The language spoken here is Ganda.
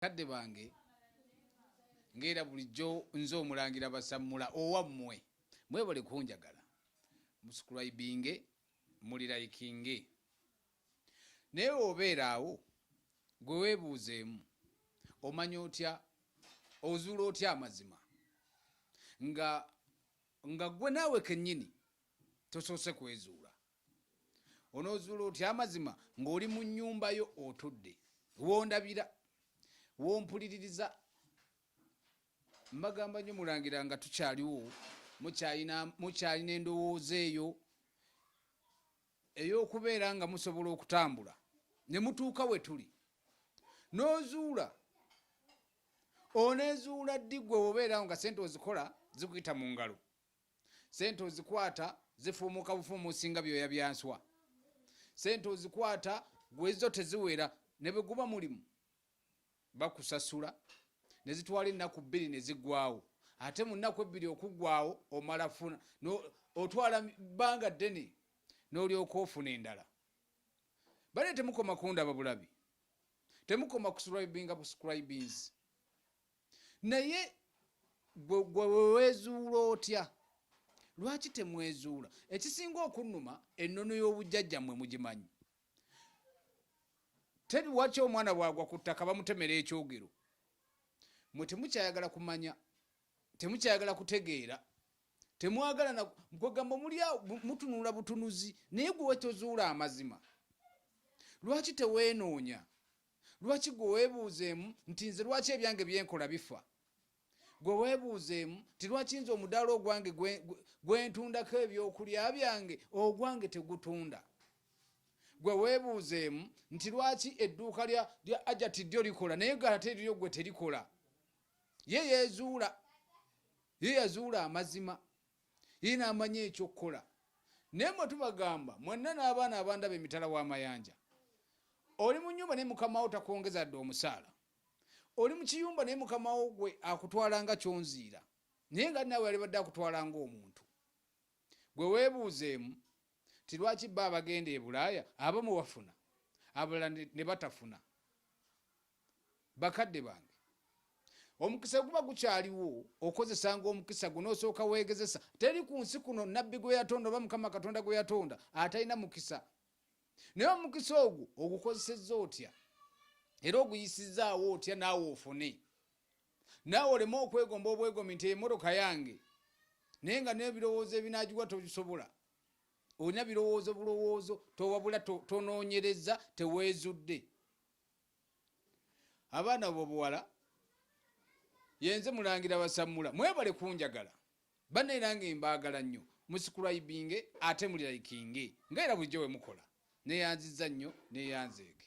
bakadde bange ngaera bulijjo nze omulangira basammula owammwe mwebale kunjagala musukulaibinge muliraikinge naye obeera awo gwe weebuuzeemu omanya otya ozuula otya amazima nga nga gwe naawe kennyini tosoose kwezuula onozuula otya amazima ng'oli mu nyumba yo otudde wondabira wompuliririza mbagamba nyo mulangira nga tukyaliwo mukyalina endowooza eyo ey'okubeera nga musobola okutambula ne mutuuka we tuli n'ozuula onezuula ddi gwe obeerawo nga sente ozikola zikuyita mu ngalo sente ozikwata zifuumuka bufuumusi nga byoya byanswa sente ozikwata gwezo teziwera ne bwe guba mulimu bakusasula ne zitwala ennaku bbiri ne ziggwawo ate mu nnaku ebbiri okuggwawo omala funa otwala bbanga ddene n'olyoka ofuna endala bale temukoma kundaba bulabi temukoma kusubscribinga buscribings naye gwewewezuula otya lwaki temwezuula ekisinga okunuma ennono y'obujjajja mwe mugimanyi tebiwaki omwana bwagwa ku ttaka bamutemera ekyogero mwe temukyayagala kumanya temukyayagala kutegeera temwagala kwegamba mulya mutunula butunuzi naye gwewetozuula amazima lwaki teweenoonya Lwaki gwe weebuuzeemu nti nze lwaki ebyange byenkola bifa? Gwe weebuuzeemu nti lwaki nze omudaala ogwange gwentundako ebyokulya byange ogwange tegutunda? Gwe weebuuzeemu nti lwaki edduuka lya ajati ddyo likola naye galate liryo gwe terikola? Ye yeezuula, ye yazuula amazima. ye n'amanya eky'okukola naye mwe tubagamba mwenna n'abaana abandaba emitala w'amayanja oli mu nyumba naye mukamawo takwongeza dde omusaala oli mu kiyumba naye mukamawo gwe akutwala nga kyonziira naye nga naawe yalibadde akutwala ng'omuntu gwe weebuuzeemu ti lwaki bba abagenda e bulaaya abamu bafuna abalala ne batafuna bakadde bange omukisa guba gukyaliwo okozesanga omukisa guno osooka weegezesa teri ku nsi kuno nabbi gwe yatonda oba mukama katonda gwe yatonda atalina mukisa naye omukisa ogwo ogukozesezza otya era oguyisizzaawo otya naawe ofune naawe oleme okwegomba obwegomi nti emmotoka yange naye nga n'ebirowoozo ebinagiwa tobisobola olina birowoozo bulowoozo towabula tonoonyereza teweezudde abaana bobuwala yenze mulangira basamula mwebale kunjagala bana era nga embaagala nnyo musikulwaibinge ate muliraikinge nga era bulijjo wemukola neyanziza nnyo neyanzeege